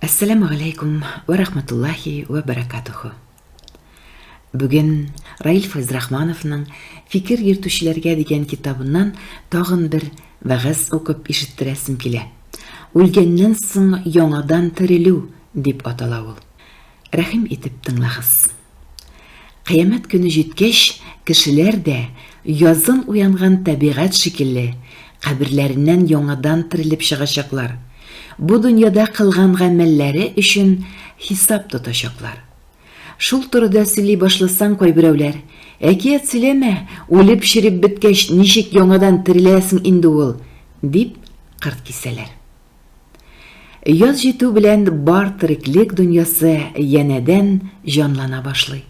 Әссәламү галәйкүм вә рахматуллаһи вә бәрәкатүһү. Бүген Раил Файзрахмановның Фикер йөртүчеләргә дигән китабыннан тагын бер вәгазь укып ишеттерәсем килә. Үлгәннән соң яңадан терелү дип атала ул. Рәхим итеп тыңлагыз. Кыямәт көне җиткәч, кешеләр дә, язын уянган табигать шикелле, каберләреннән яңадан терелеп чыгачаклар, бу дөньяда кылган гамәлләре өчен хисап тотачаклар. Шул турыда сөйли башласаң, кайберәүләр, Әкият сөйләмә, үлеп-череп беткәч, ничек яңадан тереләсең инде ул? дип кырт кисәләр. Яз җитү белән бар тереклек дөньясы янәдән җанлана башлый.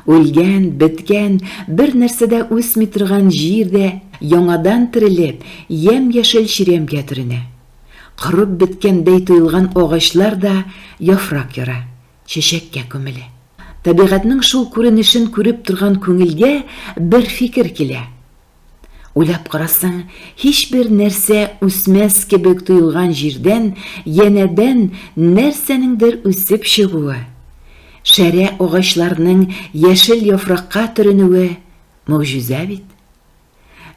Үлгән, беткән, бер нәрсә дә үсми торган җир дә яңадан терелеп, ямь-яшел чирәмгә төренә. Корып беткәндәй тоелган агачлар да яфрак яра, чәчәккә күмелә. Табигатьнең шул күренешен күреп торган күңелгә бер фикер килә, Уйлап карасаң, һичбер нәрсә үсмәс кебек тоелган җирдән янәдән нәрсәнеңдер үсеп чыгуы, шәрә агачларның яшел яфракка төренүе могҗиза бит.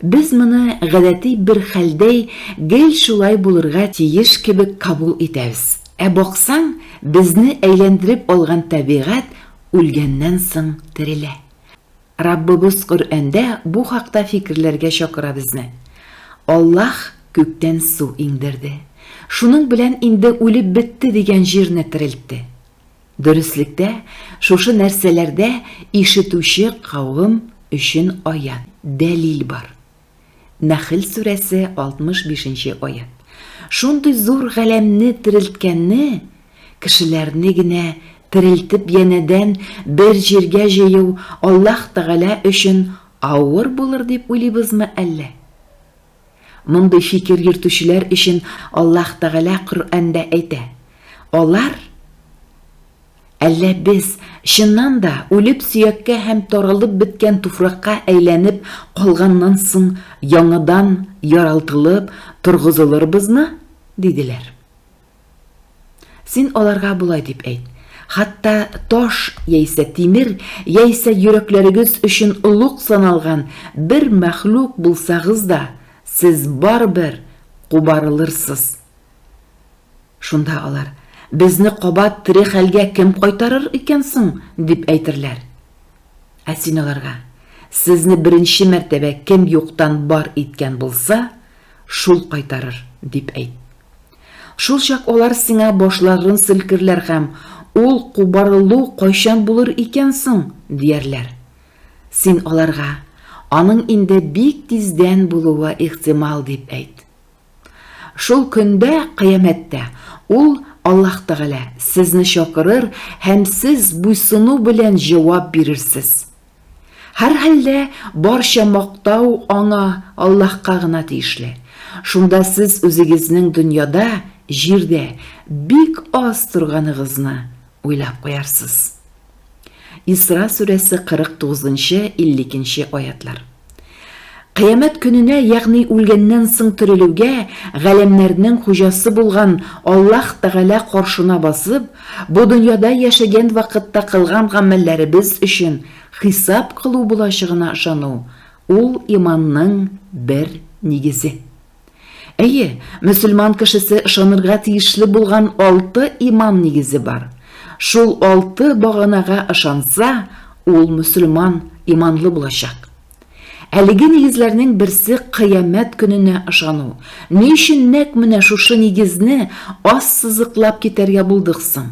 Без моны гадәти бер хәлдәй гел шулай булырга тиеш кебек кабул итәбез. Ә баксаң, безне әйләндереп алган табигать үлгәннән соң терелә. Раббыбыз Коръәндә бу хакта фикерләргә чакыра безне. Аллаһ күктән су иңдерде. Шуның белән инде үлеп бетте дигән җирне терелтте. Дөреслектә, шушы нәрсәләрдә ишетүче кавем өчен аять, дәлил бар. Нәхел сүрәсе 65 нче аять. Шундый зур галәмне терелткәнне, кешеләрне генә терелтеп янәдән бер җиргә җыю Аллаһ Тәгалә өчен авыр булыр дип уйлыйбызмы әллә? Мондый фикер йөртүчеләр өчен Аллаһ Тәгалә Коръәндә әйтә, Алар, Әллә без, чыннан да, үлеп сөяккә һәм таралып беткән туфракка әйләнеп калганнан соң яңадан яралтылып торгызылырбызмы? диделәр. Син аларга болай дип әйт, хатта таш яисә тимер яисә йөрәкләрегез өчен олуг саналган бер мәхлук булсагыз да, сез барыбер кубарылырсыз. Шунда алар, Безне кабат тере хәлгә кем кайтарыр икән соң? дип әйтерләр. Ә син аларга, Сезне беренче мәртәбә кем юктан бар иткән булса, шул кайтарыр, дип әйт. Шулчак алар сиңа башларын селкерләр һәм, Ул кубарылу кайчан булыр икән соң? диярләр. Син аларга, Аның инде бик тиздән булуы ихтимал, дип әйт. Шул көндә, кыямәттә, Ул, Аллаһ Тәгалә, сезне чакырыр һәм сез буйсыну белән җавап бирерсез. Һәрхәлдә, барча мактау Аңа, Аллаһка гына тиешле. Шунда сез үзегезнең дөньяда, җирдә, бик аз торганыгызны уйлап куярсыз. Исра сүрәсе 49-52 аятлар. Кыямәт көненә, ягъни үлгәннән соң терелүгә, галәмнәрнең хуҗасы булган Аллаһ Тәгалә каршына басып, бу дөньяда яшәгән вакытта кылган гамәлләребез өчен хисап кылу булачагына ышану, ул иманның бер нигезе. Әйе, мөселман кешесе ышанырга тиешле булган алты иман нигезе бар. Шул алты баганага ышанса, ул мөселман, иманлы булачак. Әлеге нигезләрнең берсе кыямәт көненә ышану. Ни өчен нәкъ менә шушы нигезне аз сызыклап китәргә булдык соң?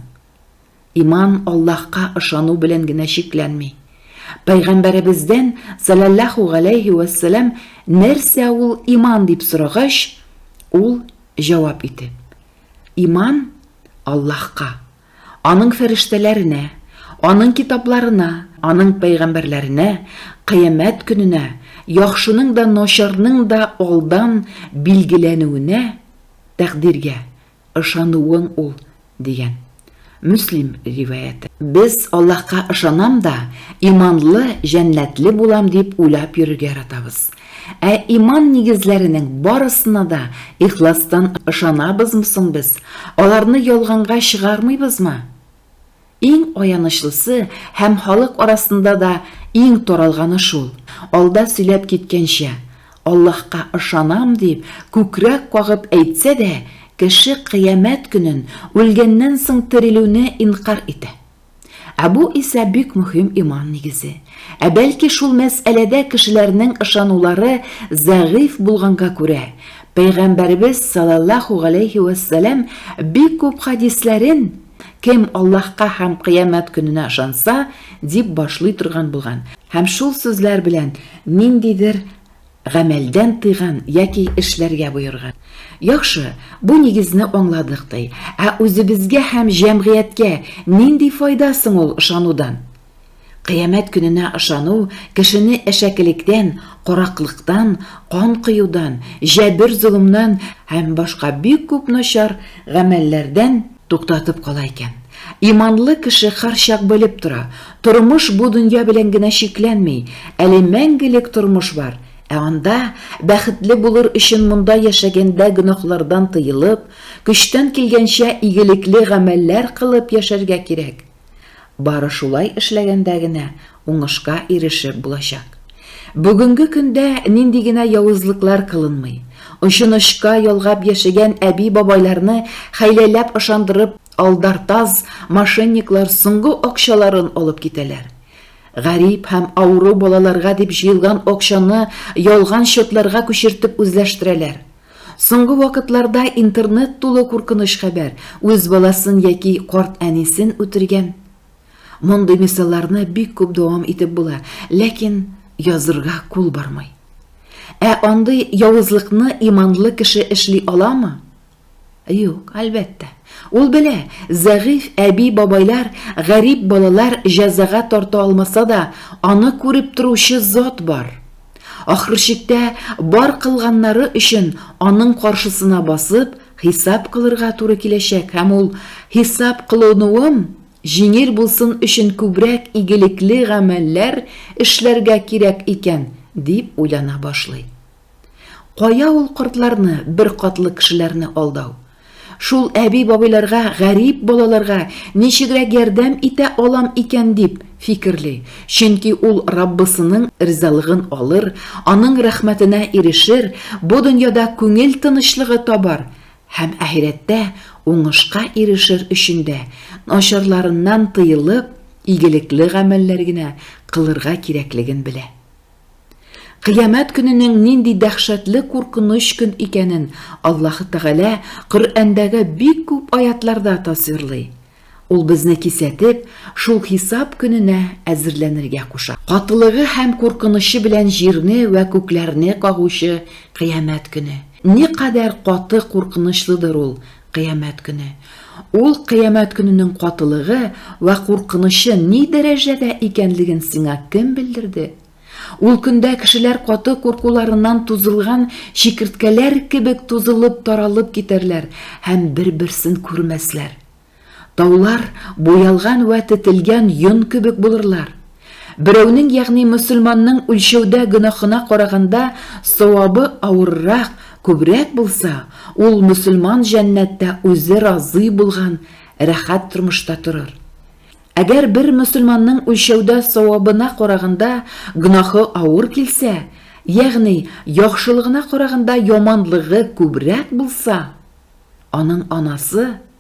Иман Аллаһка ышану белән генә чикләнми. Пәйгамбәребездән, салаллаху галәйһи вәссәлам, нәрсә ул иман дип сорагач, ул җавап итеп, Иман Аллаһка, аның фәрештәләренә, аның китапларына, аның пәйгамбәрләренә, кыямәт көненә, яхшының да, начарның да алдан билгеләнүенә, тәкъдиргә ышануың ул, дигән. Мөслим риваяте. Без Аллаһка ышанам да, иманлы, җәннәтле булам дип уйлап йөрергә яратабыз. Ә иман нигезләренең барысына да ихластан ышанабызмы соң без, аларны ялганга чыгармыйбызмы? Иң аянычлысы һәм халык арасында да иң таралганы шул, алда сөйләп киткәнчә, Аллаһка ышанам дип, күкрәк кагып әйтсә дә, кеше кыямәт көнен, үлгәннән соң терелүне инкарь итә. Ә бу исә бик мөһим иман нигезе. Ә бәлки шул мәсьәләдә кешеләрнең ышанулары зәгыйфь булганга күрә, Пәйгамбәребез салаллаһу галәйһи вәссәлам бик күп хәдисләрен, Кем Аллаһка һәм Кыямәт көненә ышанса, дип башлый торган булган һәм шул сүзләр белән ниндидер гамәлдән тыйган яки эшләргә боерган. Яхшы, бу нигезне аңладык ди. Ә үзебезгә һәм җәмгыятькә нинди файда соң ул ышанудан? Кыямәт көненә ышану кешене әшәкелектән, караклыктан, кан коюдан, җәбер-золымнан һәм башка бик күп начар гамәлләрдән туктатып кала икән. Иманлы кеше һәрчак белеп тора, тормыш бу дөнья белән генә чикләнми, әле мәңгелек тормыш бар, ә анда, бәхетле булыр өчен монда яшәгәндә гөнаһлардан тыелып, көчтән килгәнчә игелекле гамәлләр кылып яшәргә кирәк. Бары шулай эшләгәндә генә уңышка ирешеп булачак. Бүгенге көндә нинди генә явызлыклар кылынмый. Очынычка ялгап яшәгән әби-бабайларны хәйләләп ышандырып алдартаз мошенниклар соңгы акчаларын алып китәләр. Гарип һәм авыру балаларга дип җыелган акчаны ялган счетларга күчертеп үзләштерәләр. Соңгы вакытларда интернет тулы куркыныч хәбәр, үз баласын яки карт әнисен үтергән. Мондый мисалларны бик күп дәвам итеп була, ләкин язырга кул бармый. Ә андый явызлыкны иманлы кеше эшли аламы? Юк, әлбәттә. Ул белә, зәгыйфь әби-бабайлар гарип балалар җәзага тарта алмаса да, аны күреп торучы зат бар. Ахырчиктә бар кылганнары өчен аның каршысына басып, хисап кылырга туры киләчәк һәм ул хисап кылынуым җиңел булсын өчен күбрәк игелекле гамәлләр эшләргә кирәк икән, дип уйлана башлый. Кая ул кортларны, бер катлы кешеләрне алдау? Шул әби-бабайларга, гарип балаларга ничегрәк ярдәм итә алам икән дип фикерли, чөнки ул Раббысының ризалыгын алыр, Аның рәхмәтенә ирешер, бу дөньяда күңел тынычлыгы табар һәм әһирәттә уңышка ирешер өчен дә начарларыннан тыелып, игелекле гамәлләр генә кылырга кирәклеген белә. Кыямәт көненең нинди дәһшәтле куркыныч көн икәнен Аллаһы Тәгалә Коръәндәге бик күп аятларда тасвирлый. Ул безне кисәтеп, шул хисап көненә әзерләнергә куша. Катылыгы һәм куркынычы белән җирне вә күкләрне кагучы Кыямәт көне! Никадәр каты куркынычлыдыр ул Кыямәт көне. Ул кыямәт көненең катылыгы вә куркынычы ни дәрәҗәдә икәнлеген сиңа кем белдерде? Ул көндә кешеләр каты куркуларыннан тузылган чикерткәләр кебек тузылып-таралып китәрләр һәм бер-берсен күрмәсләр. Таулар буялган вә тетелгән йон кебек булырлар. Берәүнең, ягъни мөселманның үлчәүдә гөнаһына караганда савабы авыррак, күбрәк булса, ул мөселман җәннәттә үзе разый булган рәхәт тормышта торыр. Әгәр бер мөселманның үлчәүдә савабына караганда гөнаһы авыр килсә, ягъни яхшылыгына караганда яманлыгы күбрәк булса, аның анасы,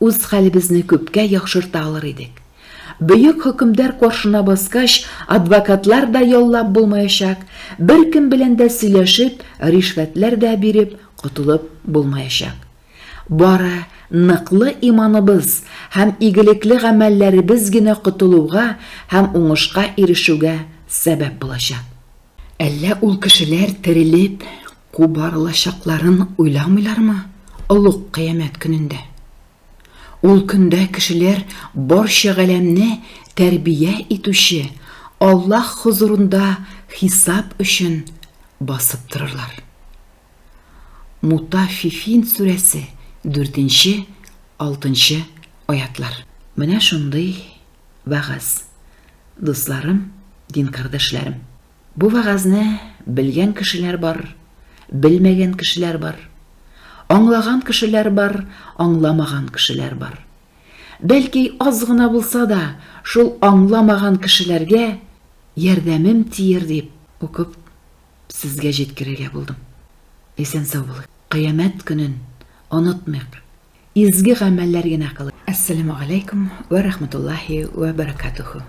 Үз хәлебезне күпкә яхшырта алыр идек. Бөек хөкемдар каршына баскач, адвокатлар да яллап булмаячак, беркем белән дә сөйләшеп, ришвәтләр дә биреп котылып булмаячак. Бары ныклы иманыбыз һәм игелекле гамәлләребез генә котылуга һәм уңышка ирешүгә сәбәп булачак. Әллә ул кешеләр терелеп, Кубарылачакларын уйламыйлармы олуг кыямәт көнендә? Ул көндә кешеләр барча галәмне тәрбия итүче Аллаһ хозурында хисап өчен басып торырлар. Мутаффифин сүрәсе, дүртенче, алтынчы аятлар. Менә шундый вәгазь, дусларым, дин кардәшләрем. Бу вәгазьне белгән кешеләр бар, белмәгән кешеләр бар. Аңлаган кешеләр бар, аңламаган кешеләр бар. Бәлки, аз гына булса да, шул аңламаган кешеләргә ярдәмем тияр дип, укып, сезгә җиткерергә булдым. Исән-сау булыйк. Кыямәт көнен онытмыйк. Изге гамәлләр генә кылыйк. Әссәләмү галәйкүм вә рахмәтуллаһи вә бәрәкәтүһү.